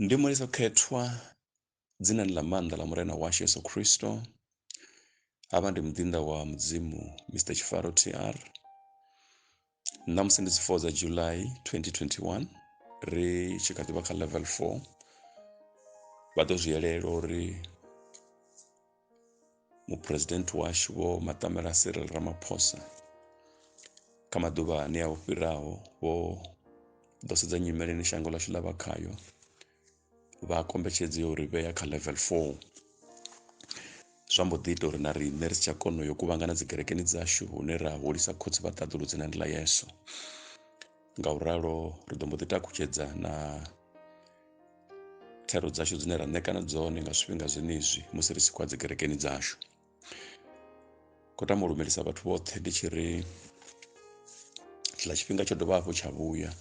Ndi Mulisa Khethwa, dzinani ḽa maanḓa ḽa Murena washu Yesu Kristo. Havha ndi muḓinḓa wa Mudzimu Mister Tshifaro TR. Ṋamusi ndi dzi 4 dza July 2021 ri tshi kha ḓivha kha level 4 vha ḓo zwi yelela uri muphuresidennde washu vho maṱamela cyril ramaphosa kha maḓuvha ane a u fhiraho vho ḓo sedza nyimele ine shango ḽashu ḽa vha khayo vha kombetshedza ya uri vhea kha level 4 zwa mbo ḓi ita uri na riṋe ri si tsha kona yo kuvhangana dzi kerekeni dzashu hune ra hulisa khotsi vha ṱaḓulu dzina ndi ḽa yesu nga u ralo ri ḓo mbo ḓi takutshedza na thero dzashu dzine ra ṋekana dzone nga zwifhinga zwenezwi musi ri tshi khou dzi kerekeni dzashu khou tama u lumelisa vhathu vhoṱhe ndi tshi ri tshiḽa tshifhinga tsho dovha hafhu tsha vhuya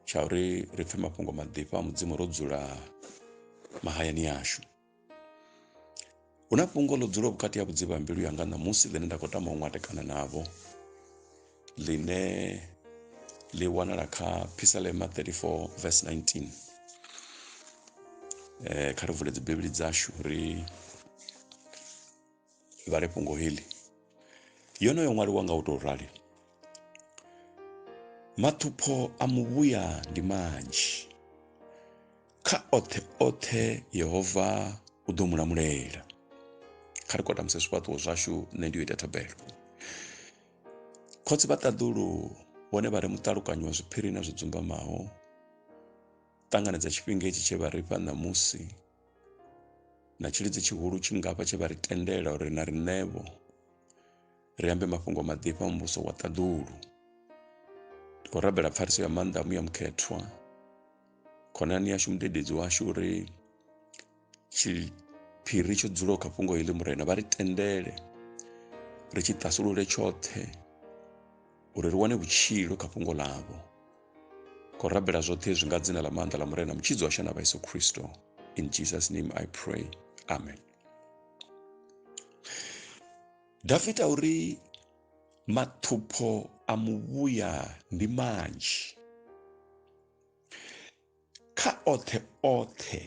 tsha uri ri pfhe mafhungo maḓifha a mudzimu ro dzula mahayani ashu hu na fhungo ḽo dzulaho vhukati ha vhudzivha ha mbilu yanga ṋamusi ḽine nda khou tama u ṅwatekana navho ḽine ḽi wanala kha phisalema 34 vs 19 um kha ri vule dzibivhili dzashu ri vhale fhungo heḽi yonoyo ṅwaliwa nga u tou rali maṱhupho a muvhuya ndi manzhi kha oṱhe oṱhe yehova u ḓo mu lamulela kha ri kotamuse zwifhaṱuwo zwashu nṋe ndi yo ita thabelo khotsi vha ṱaḓulu vhone vha ri muṱalukanyi wa zwiphiri na zwi dzumbamaho ṱanganedza tshifhinga itshi tshe vha ri fha ṋamusi na tshilidzi tshihulu tshingafha tshe vha ri tendela uri na riṋevho ri ambe mafhungo maḓifha a muvhuso wa ṱaḓulu ndi khou rabela pfariso ya maanḓa a muya mukhethwa khonani yashu mudededzi washu uri tshiphiri tsho dzulaho kha fhungo heḽi murena vha ri tendele ri tshi ṱasulule tshoṱhe uri ri wane vhutshilo kha fhungo ḽavho Khou rabela zwoṱhe zwi nga dzina ḽa maanḓa ḽa Murena Mutshidzi washu na Vhayesu Kristo. In Jesus name I pray. Amen. Davida uri maṱhupho a muvhuya ndi manzhi kha oṱhe oṱhe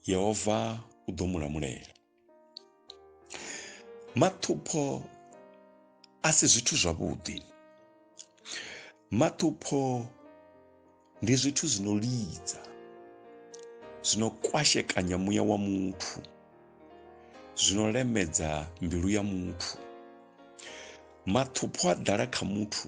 Yehova u ḓo mu lamulela. maṱhupho a si zwithu zwavhuḓi maṱhupho ndi zwithu zwi no lidza zwi no kwashekanya muya wa muthu zwi no lemedza mbilu ya muthu maṱhupho a ḓala kha muthu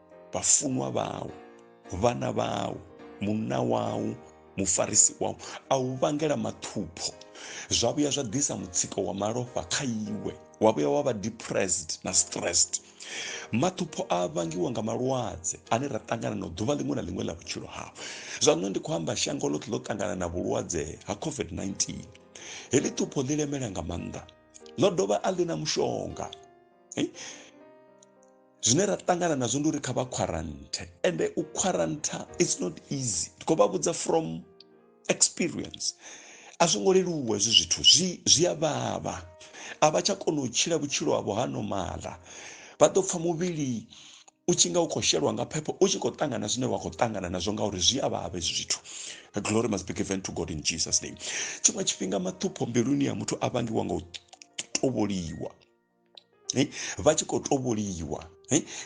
vhafunwa vhau vhana vhau munna wau mufarisi wau a u vhangela mathupho zwa vhuya zwa ḓisa mutsiko wa malofha kha iwe wa vhuya wa vha depressed na stressed mathupho a vhangiwa nga malwadze ane ra ṱangana na ḓuvha ḽiṅwe na ḽiṅwe ḽa vhutshilo hao zwa nṋe ndi khou amba shango ḽoṱhe ḽo ṱangana na vhulwadze ha covid-19 heḽi thupho ḽi lemela nga maanḓa ḽo dovha a ḽi na mushonga zwine ra ṱangana nazwo ndi uri kha vha quarantine ende u quarantine it's not easy ndi khou vha vhudza from experience a zwo ngo leluwa hezwi zwithu zwi zwi a vhavha a vha tsha kona u tshila vhutshilo havho ha nomala vha ḓo pfha muvhili u tshi nga u khou shelwa nga phepho u tshi khou ṱangana zwine wa khou ṱangana nazwo ngauri zwi a vhavha hezwi zwithu glory must be given to god in jesus name tshiṅwe tshifhinga maṱhupho mbiluni ya muthu a vhangiwa nga u tovholiwa vha tshi khou tovholiwa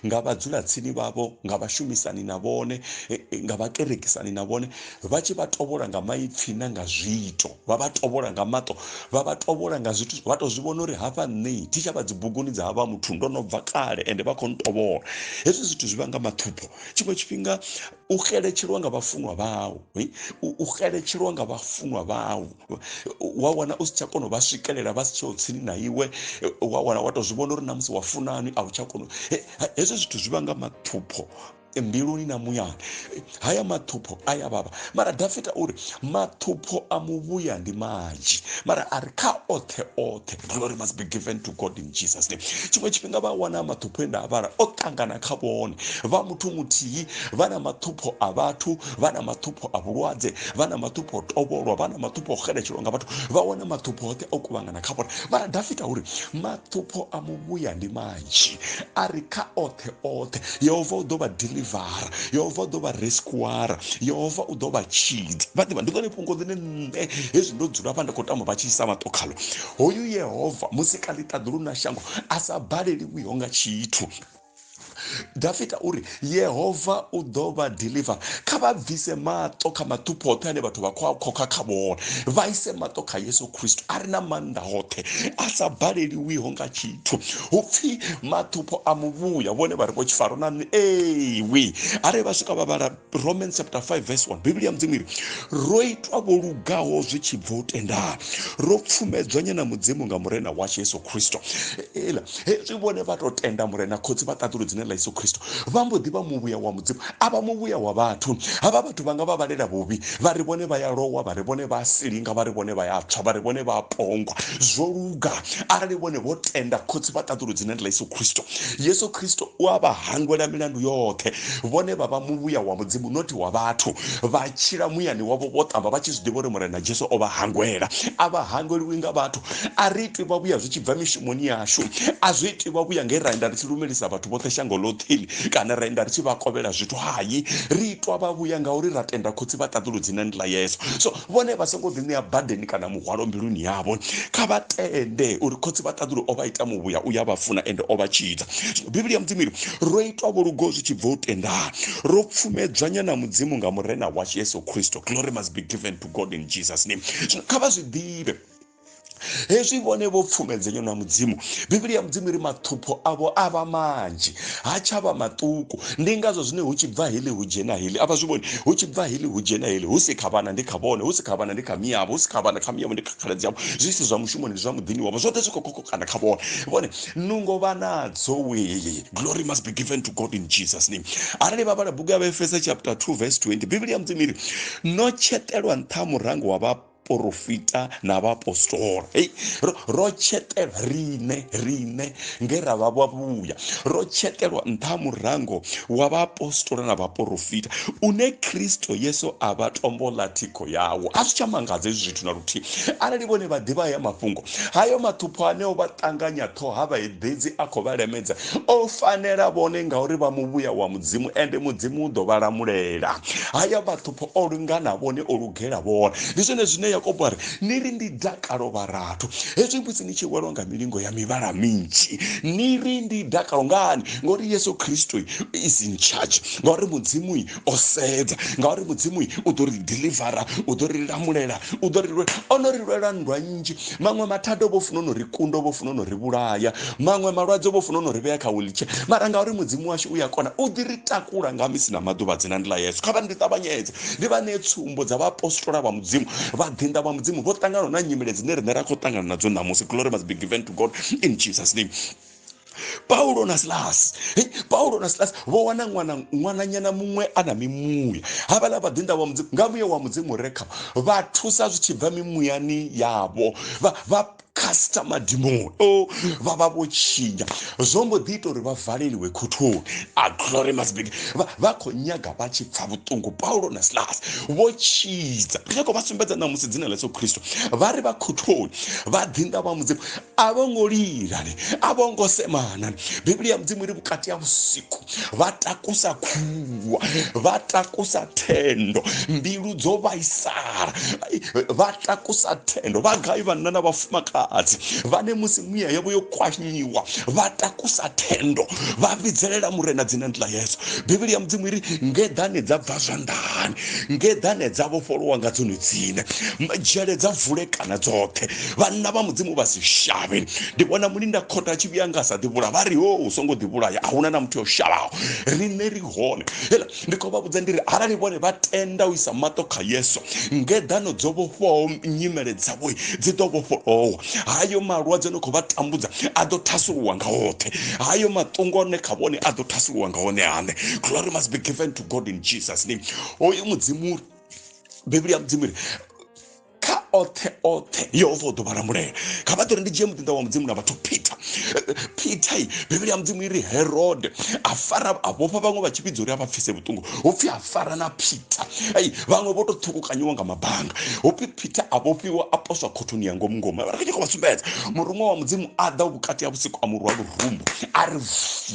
nga vhadzulatsini vhavho nga vhashumisani na vhone nga vhakerekisani na vhone vha tshi vha tovhola nga maipfi na nga zwiito vha vha tovhola nga maṱo vha vha tovhola nga zwithu vha tou zwi vhona uri hafha nṋe thi tsha vha dzibuguni dza havha muthu ndo no bva kale ende vha khou ntovhola hezwi zwithu zwi vha nga maṱhupho tshiṅwe tshifhinga u xeletshelwa nga vhafunwa vhau u xeletshelwa nga vhafunwa vhau wa wana u si tsha kona u vha swikelela vha si tsheho tsini na iwe wa wana wa tou zwi vhona uri na musi wa funani a u tsha kona hezwo zwithu zwi vhanga mathupho mbiluni na muyani haya mathupho a ya vhavha mara dafita uri mathupho a muvhuya ndi manzhi mara a ri kha oṱhe oṱhe glory must be given to god jesus name tshiṅwe tshifhinga vha wana maṱhupho e nda a vhala o ṱangana kha vhone vha muthu muthihi vha na maṱhupho a vhathu vha na maṱhupho a vhulwadze vha na maṱhupho o tovholwa vha na maṱhupho o xeletshelwa nga vhathu vha wana maṱhupho oṱhe o kuvhangana kha vhone mara dafita uri maṱhupho a muvhuya ndi manzhi a ri kha oṱhe oṱhe yehova u ḓo vha delivara yehova u ḓo vha rescuara yehova u ḓo vha tshidza vha ḓivha ndi ḽone fhungo ḽine nṋe hezwi ndo dzula vha ndi khou tamba vha tshi isa maṱo khalo hoyu yehova musi kha ḽiṱaḓulu na shango a sa baleliwiho nga tshithu dafita uri yehova u ḓo vha deliver kha vha bvise maṱo kha maṱhupho oṱhe ane vhathu vha khou a khokha kha vhone vha ise maṱo kha yesu khristu a re na maanḓa hoṱhe a sa baleliwiho nga tshithu hu pfhi maṱhupho a muvhuya vhone vha ri vho tshifaro na nṋe ewi arali vha swika vha vhala romans chapter 5 verse 1 bivhili ya mudzimu iri ro itwa vho lugaho zwi tshi bva u tendala ro pfumedzwa nyana mudzimu nga murena washu yesu khristo ela hezwi vhone vha tou tenda murena khotsi vha ṱaḓulu dzine ḽa yesu khristo vha mbo ḓi vha muvhuya wa mudzimu a vha muvhuya wa vhathu havha vhathu vha nga vha vhalela vhuvhi vha ri vhone vha ya lowa vha ri vhone vha silinga vha ri vhone vha ya tswa vha ri vhone vha pongwa zwo luga arali vhone vho tenda khotsi vha ṱaḓulu dzine ḽa yesu khristo yesu khristo u a vha hangwela milandu yoṱhe vhone vha vha muvhuya wa Mudzimu nothi wa vhathu. Vha tshila muyani wavho vho ṱamba vha tshi zwi ḓivha uri Murena Jesu o vha hangwela. A vha hangweliwi nga vhathu. A ri itwi vhavhuya zwi tshi bva mishumoni yashu. A zwi itwi vhavhuya nge ra enda ri tshi lumelisa vhathu vhoṱhe shango ḽoṱheli kana ra enda ri tshi vha kovhela zwithu. Hai, ri itwa vhavhuya ngauri ra tenda Khotsi vha ṱaḓulu dzinani ḽa Yesu. So, vhone vha songo ḓi ṋea badeni kana muhwalo mbiluni yavho kha vha tende uri khotsi vha ṱaḓulu o vha ita muvhuya u ya vha funa ende o vha tshidza zwino bivhili ya mudzimu iri ro itwa vholugo zwi tshi bva u tendana ro pfumedzwanya na mudzimu nga murena washu yesu kristo glory must be given to god in jesus name zwino kha vha zwi ḓivhe hezwi vhone vho pfumedzenywa na mudzimu bivhili ya mudzimu iri maṱhupho avho a vha manzhi ha tshavha maṱuku ndi ngazwo zwine hu tshi bva hili hu dzhena hili avha zwi vhoni hu tshi bva hili hu dzhena hili hu si kha vhana ndi kha vhone hu si kha vhana ndi kha miyavho hu si kha vhana kha miyavho ndi kha khaladzi yavho zwi si zwa mushumoni ndi zwa muḓini wavho zwoṱhe zwi khou kokokana kha vhone vhone nungo vha nadzo wee glory must be given to god in jesus name arali vha vhala bugu ya vhaefesa chapter 2 verse 20 bivhili ya mudzimu iri no tshetelwa nṱha murango wa vha porofita na vhaapostola hei ro, ro tshetelwa riṋe riṋe nge ra vha vhavhuya ro tshetelwa nṱha ha murango wa vhaapostola na vhaporofita une kristo yesu a vha tombo ḽa thikho yawo a zwi tsha mangadza hezwi zwithu na luthihi arali vhone vha ḓivha haya mafhungo hayo mathupho aneo vha ṱanganya ṱhoho ha vhaeḓedzi a khou vha lemedza o fanela vhone ngauri vha muvhuya wa mudzimu ende mudzimu u ḓo vha lamulela haya mathupho o lungana vhone o lugela vhone. Ndi zwone zwine Yakobo a ri, Ni ri ndi dakalo vharathu, hezwi musi ni tshi welwa nga milingo ya mivhala minzhi. Ni ri ndi dakalo ngani? Ngauri Yesu Kristo is in charge, ngauri Mudzimu o sedza, ngauri Mudzimu u ḓo ri delivera, u ḓo ri lamulela, u ḓo ri lwela. O no ri lwela nndwa nnzhi, maṅwe mathada vho funa no ri kunda, vho funa no ri vhulaya, maṅwe malwadze vho funa no ri vhea kha wheelchair, mara ngauri Mudzimu washu u ya kona, u ḓi ri takula nga misi na maḓuvha dzina ndi ḽa Yesu. Kha vha ndi ṱavhanyedze ri vha ṋee tsumbo dza vhaapostola vha mudzimu vhaḓinḓa vha mudzimu vho ṱangana na nyimele dzine riṋe ra khou ṱangana nadzo ṋamusi glory must be given to god in jesus name paulo na silasi paulo na silasi vho wana ṅwana ṅwananyana muṅwe a na mimuya havhaḽa vhaḓinḓa wa mudzimu nga muya wa mudzimu re kha vha thusa zwi tshi bva mimuyani yavho vha casta madimoni o oh, vha vha vho tshinya zwo mbo ḓi ita uri vha valeliwe khothoni a ah, glory must be vha khou nyaga vha tshi pfa vhuṱungu paulo na silas vho tshidza ri khou vha sumbedza na musi dzina ḽa yesu khristo vha ri vha khothoni vha ḓinḓa vha mudzimu a vho ngo lilani a vho ngo semana biblia ya mudzimu ri vhukati ha vhusiku vha takusa khulu vhaliwa vha takusa thendo mbilu dzo vhaisala vha takusa thendo vha gai vhanna na vhafumakadzi vhane musi miya yavho yo kwanyiwa vha takusa thendo vha vhidzelela murena dzina ndi ḽa yesu bivhili ya mudzimu iri ngeḓane dza bva zwanḓani ngeḓane dza vhofholowa nga dzone dzine dzhele dza vulekana dzoṱhe vhanna vha mudzimu vha si shavhe ndi vhona mulinda khotha a tshi vhuya nga sa ḓivhula vha ri ho u songo ḓivhulaya ahuna na muthu o shavhaho riṋe ri hone hela ndi khou vha vhudza ndi ri arali vhone vha tenda u isa maṱo kha yesu ngeḓano dzo vhofhaho nyimele dzavho dzi ḓo vhofholowa hayo malwadze no khou vha tambudza a ḓo thasuluwa nga hoṱhe hayo maṱungo one kha vhone a ḓo thasuluwa nga hone hane glory must be given to god in jesus name hoyu mudzimu bivhili ya mudzimu ri kha oṱhe oṱhe yehova u ḓo vha lamulela kha vha ḓo ri ndi dzhie muḓinḓa wa mudzimu na vhathu peter peter i bivhili ya mudzimu iri herode a fara a vhofha vhaṅwe vha tshi vhidza uri a vha pfise vhuṱungu hu pfhi a fara na peter ei vhaṅwe vho tou ṱhukukanyiwa nga mabanga hu pfhi peter a vhofhiwa a poswa khothoni ya ngomu ngomu vha ri khou vha sumbedza muruṅwa wa mudzimu a ḓa vhukati ha vhusiku a murwa lurumbu a ri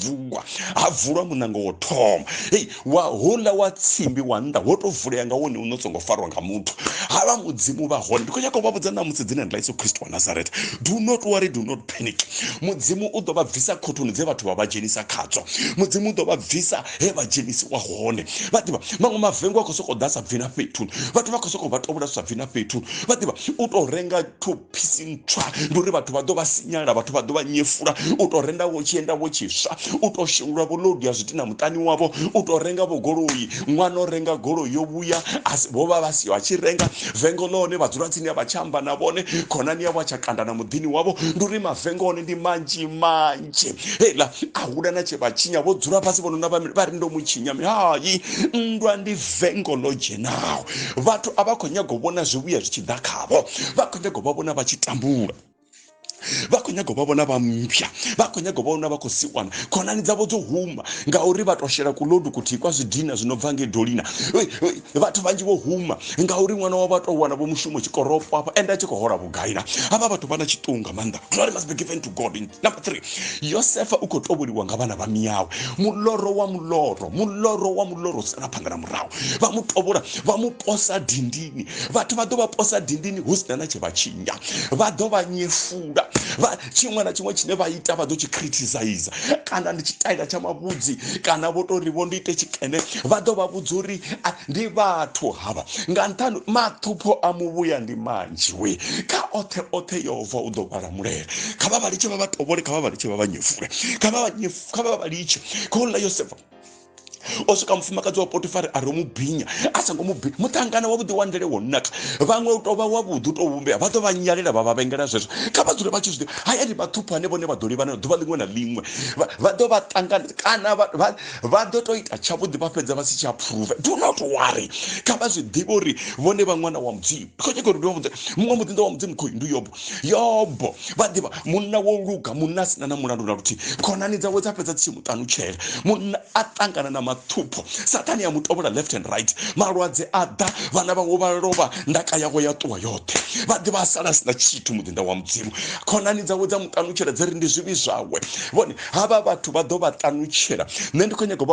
vuwa ha vulwa munango wo thoma ei wa houḽa wa tsimbi wa nnḓa wo tou vulea nga wone uno songo farwa nga muthu ha vha mudzimu vha hone ndi khou nyaka u vha vhudza ṋamusi dzina ḽa yesu kristo wa nazareth do not worry do not panic mudzimu u ḓo vha bvisa khothoni dze vhathu vha vha dzhenisa khadzo mudzimu u ḓo vha bvisa he vha dzhenisiwa hone vha ḓivha maṅwe mavengo a khou sokou ḓa sa bvi na fhethu vhathu vha khou sokou vha tovhula sa bvi na fhethu vha ḓivha u tou renga phisi ntswa ndi uri vhathu vha ḓo vha sinyala vhathu vha ḓo vha nyefula u tou renda vho tshienda vho tshiswa u tou shengulwa vho lodu ya zwiti na muṱani wavho u tou renga vho goloi ṅwana o renga goloi yo vhuya vho vha vha siho a tshi renga vengo ḽone vha dzula tsini a vha tsha amba na vhone khonani yavho a tsha kanda na muḓini wavho ndi uri mavengo one ndi manzhi manzhi tshe hela a hula na tshe vha tshinya vho dzula fhasi vho nona vha ri ndo mu tshinya hai nndwa ndi vengo ḽo dzhenaho vhathu a vha khou nyaga u vhona zwivhuya zwi tshi ḓa khavho vha khou nyaga u vha vhona vha tshi tambula vha khou nyaga u vha vhona vha mpya vha khou nyaga u vha vhona vha khou siwana khonani dzavho dzo huma ngauri vha to shela kulodu kuthihi kwa zwidina zwi no bva ngei dolina vhathu vhanzhi vho huma ngauri ṅwana wavho a tou wana vho mushumo tshikorofo afha ende a tshi khou hola vhugai na havha vhathu vha na tshiṱungu nga maanḓa glory must be given to god number three yosefa u khou tovholiwa nga vhana vha miyawe muloro wa muloro muloro wa muloro sala phanḓa na murahu vha mu tovhola vha mu posa dindini vhathu vha ḓo vha posa dindini hu sina na tshe vha tshinya vha ḓo vha nyefula vha tshiṅwe na tshiṅwe tshine vha ita vha ḓo tshi criticize kana ndi tshitaila tsha mavhudzi kana vho tori vho ndi ite tshikene vha ḓo vha vhudza uri ndi vhathu havha nga nṱhani maṱhupho a muvhuya ndi manzhi we kha oṱhe oṱhe yehova u ḓo vhala mulele kha vha vha litshe vha vha tovhole kha vha vha litshe vha vha nyefule kha vha vha nyefule kha vha vha litshe kha u ḽa yosefa o swika mufumakadzi wa potifari a ri mu binya a songo mu binya muṱangana wavhuḓi wa ndele wo naka vhaṅwe u tou vha wavhuḓi u tou vhumbea vha ḓo vha nyalela vha vha vhengela zwezwo kha vha dzule vha tshi zwi ḓivha hayani vhaṱhuphane vhone vha ḓo livhana ḓuvha ḽiṅwe na ḽiṅwe vha ḓo vha ṱangana kana vha ḓo tou ita tshavhuḓi vha fhedza vha si tsha phuruva do not worry kha vha zwi ḓivhe uri vhone vha ṅwana wa mudzimu kho nyaka uri ndi wa mudzimu muṅwe muḓinḓa wa mudzimu khoyu ndi yobo yobo vha ḓivha munna wo luga munna a sina na mulandu na luthihi khonani dzawe dza fhedza tsimu ṱanutshela munna a ṱangana na mathupho sathani ya mutovhola left and right malwadze a ḓa vhana vhawe vha lovha ndaka yawe ya ṱuwa yoṱhe vha ḓivha a sala sina tshithu muḓinda wa mudzimu khonani dzawe dza muṱanutshela dzi ri ndi zwivhi zwawe vhone havha vhathu vha ḓo vha ṱanutshela nṋe ndi khou nyaga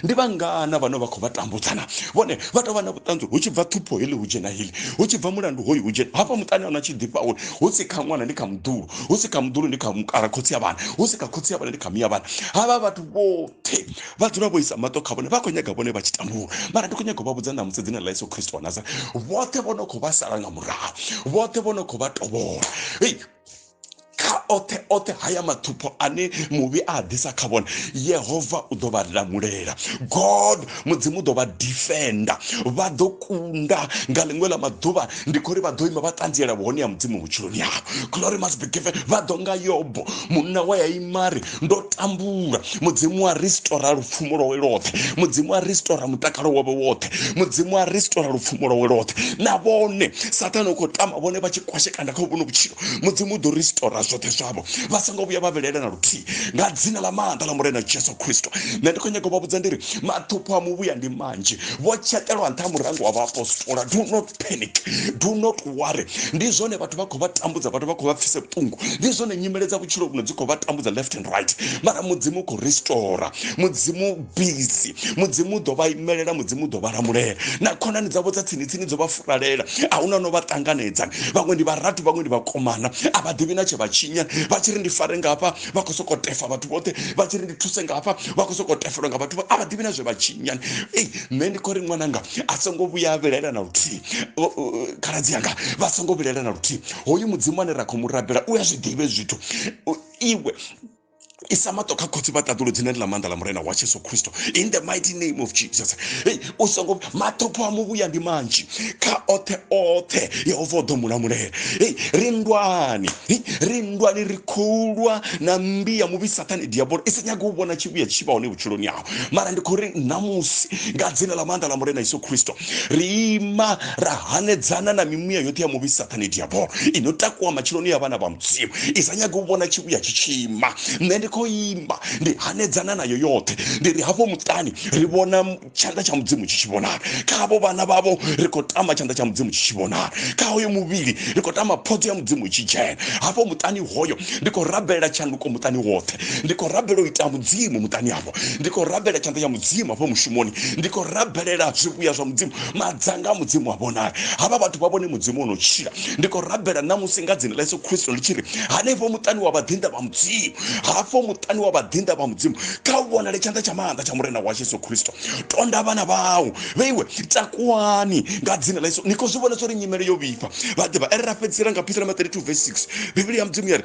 Ndi vhangana vhane vha khou vha tambudza na vhone vha tou vha na vhuṱanzi hu tshi bva ṱhupho heḽi hu dzhena heḽi, hu tshi bva mulandu hoyu hu dzhena hafha muṱani hano tshi ḓifha uri hu si kha ṅwana ndi kha muḓulu, hu si kha muḓulu ndi kha mukala khotsi a vhana, hu si kha khotsi a vhana ndi kha mia vhana. Havha vhathu vhoṱhe vha dzula vho isa maṱo kha vhone vha khou nyaga vhone vha tshi tambula, mara ndi khou nyaga u vha vhudza ṋamusi dzina ḽa Yesu Kristo wa Nazareth vhoṱhe vho no khou vha sala nga murahu, vhoṱhe vho no khou vha tovhola hei kha oṱhe oṱhe haya mathupho ane muvhi a ḓisa kha vhone yehova u ḓo vha lamulela god mudzimu u ḓo vha defenda vha ḓo kunda nga ḽiṅwe ḽa maḓuvha ndi khou ri vha ḓo ima vha ṱanziela vhuhone ya mudzimu vhutshiloni yavho glory must be given vha ḓo nga yobo munna wa ya imari ndo tambula mudzimu wa ristora lupfumo lwawe lwoṱhe mudzimu wa ristora mutakalo wawe woṱhe mudzimu wa ristora lupfumo lwawe lwoṱhe na vhone sathane u khou tama vhone vha tshi kwashekana kha vhuno vhutshilo mudzimu u ḓo ristora zwoṱhe zwavho vha songo vhuya vha vhilela na luthihi nga dzina ḽa maanḓa ḽa murena jesu kristo nṋe ndi khou nyaga u vha vhudza ndi ri mathupho a muvhuya ndi manzhi vho tshetelwa nṱha murango wa vhaapostola do not panic do not worry ndi zwone vhathu vha khou vha tambudza vhathu vha khou vha pfise vhuṱungu ndi zwone nyimele dza vhutshilo vhuno dzi khou vha tambudza left and right mara mudzimu u khou restora mudzimu busy mudzimu u ḓo vha imelela mudzimu u ḓo vha lamulela na khonani dzavho dza tsini tsini dzo vha furalela a huna no vha ṱanganedza vhaṅwe ndi vharathu vhaṅwe ndi vhakomana a vha ḓivhi na tshe vha tshinya vha tshi ri ndi fare ngafha vha khou sokou tefa vhathu vhoṱhe vha tshi ri ndi thuse ngafha vha khou sokou tefelwa nga vhathu a vha ḓivhi na zwe vha tshinyani nṋe ndi khou ri ṅwananga a songo vhuya a vhilaela na luthihi khaladzi yanga vha songo vhilaela na luthihi hoyu mudzimu ane ra khou mu rabela u a zwi ḓivhe zwithu iwe isa maṱo kha khotsi vha ṱaḓulu dzine ndi ḽa maanḓa ḽa murena wa jesu khristo in the mighty name of jesus hey u songo maṱhopho a muvhuya ndi manzhi kha oṱhe oṱhe yehova o ḓo mulamulela hey ri ndwani ri ndwani ri khoulwa na mmbi ya muvhi sathane diabolo i sa nyagi u vhona tshivhuya tshi vha hone vhutshiloni hau mara ndi khou ri ṋamusi nga dzina ḽa maanḓa ḽa murena yesu khristo ri ima ra hanedzana na mimuya yoṱhe ya muvhi sathane diabolo i no takuwa matshiloni ya vhana vha mudzimu i sa nyagi u vhona tshivhuya tshi tshi ima nṋe ndi khou imba ndi hanedzana nayo yoṱhe ndi ri hafho muṱani ri vhona tshanḓa tsha mudzimu tshi tshi vhonala kha havho vhana vhavho ri khou tama tshanḓa tsha mudzimu tshi tshi vhonala kha hoyo muvhili ri khou tama phodzo ya mudzimu i tshi dzhena hafho muṱani hoyo ndi khou rabelela tshanduko muṱani woṱhe ndi khou rabela u ita mudzimu muṱani hafho ndi khou rabela tshanḓa ya mudzimu hafho mushumoni ndi khou rabelela zwivhuya zwa mudzimu madzanga a mudzimu wa vhonala havha vhathu vha vhone mudzimu o no tshila ndi khou rabela ṋamusi nga dzina ḽa yesu khristo ḽi tshi ri hanefho muṱani wa vhaḓinḓa vha mudzimu hafho muṱani wa vhaḓinḓa vha mudzimu kha u vhonale tshanḓa tsha maanḓa tsha murena washu yesu khristo tonda vhana vhau vhe iwe takuwani nga dzina ḽa yesu ni khou zwi vhona zwo ri nyimele yo vhifha vhaḓivha ere ra fhedzisela nga phisalema 32 vs 6 bivhili ya mudzimu ya ri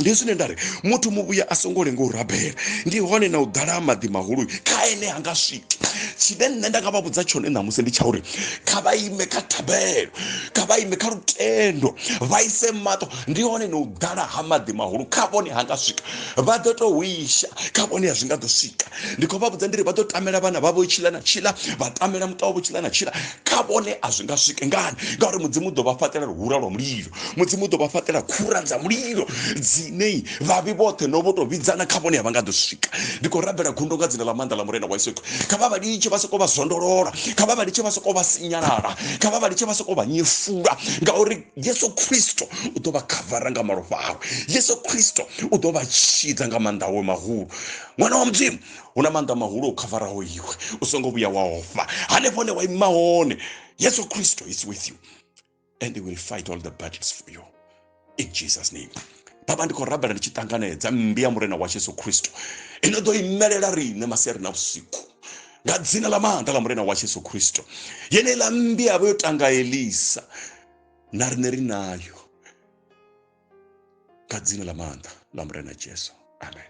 ndi zwine nda ri muthu muvhuya a songo lenga u rabela ndi hone na u ḓala ha maḓi mahulu kha ene ha nga swiki tshine nṋe nda nga vha vhudza tshone ṋamusi ndi tsha uri kha vha ime kha thabelo kha vha ime kha lutendo vha ise maṱo ndi hone na u ḓala ha maḓi mahulu kha vhone ha nga swika vha ḓo to wisha kha vhone ya zwi nga ḓo swika ndi khou vha vhudza ndi ri vha ḓo tamela vhana vha vho tshila na tshila vha tamela muṱa wavho tshila na tshila kha vhone a zwi nga swike ngani ngauri mudzimu u ḓo vha fhaṱela luhura lwa mulilo mudzimu u ḓo vha fhaṱela khura dza mulilo dzine vhavhi vhoṱhe no vho tou vhidzana kha vhone a vha nga ḓo swika ndi khou rabela gundo nga dzina ḽa maanḓa ḽa murena wa yesu kha vha vha litshe vha sokou vha zwondolola kha vha vha litshe vha sokou vha sinyalala kha vha vha litshe vha sokou vha nyefula ngauri yesu khristo u ḓo vha khavara nga malofha awe yesu khristo u ḓo vha tshidza nga maanḓa awe mahulu ṅwana wa mudzimu hu na maanḓa mahulu o khavaraho iwe u songo vhuya wa ofha hanefho hone wa ima hone yesu khristo is with you and they will fight all the battles for you in jesus name baba ndi khou rabela ndi tshi ṱanganedza mmbi ya murena wa jesu khristu ino ḓo imelela riṋe masiari na vhusiku nga dzina ḽa maanḓa ḽa murena wa jesu khristu yeneiḽa mmbi yavha yo tanga elisa na riṋe ri nayo nga dzina ḽa maanḓa ḽa murena jesu amen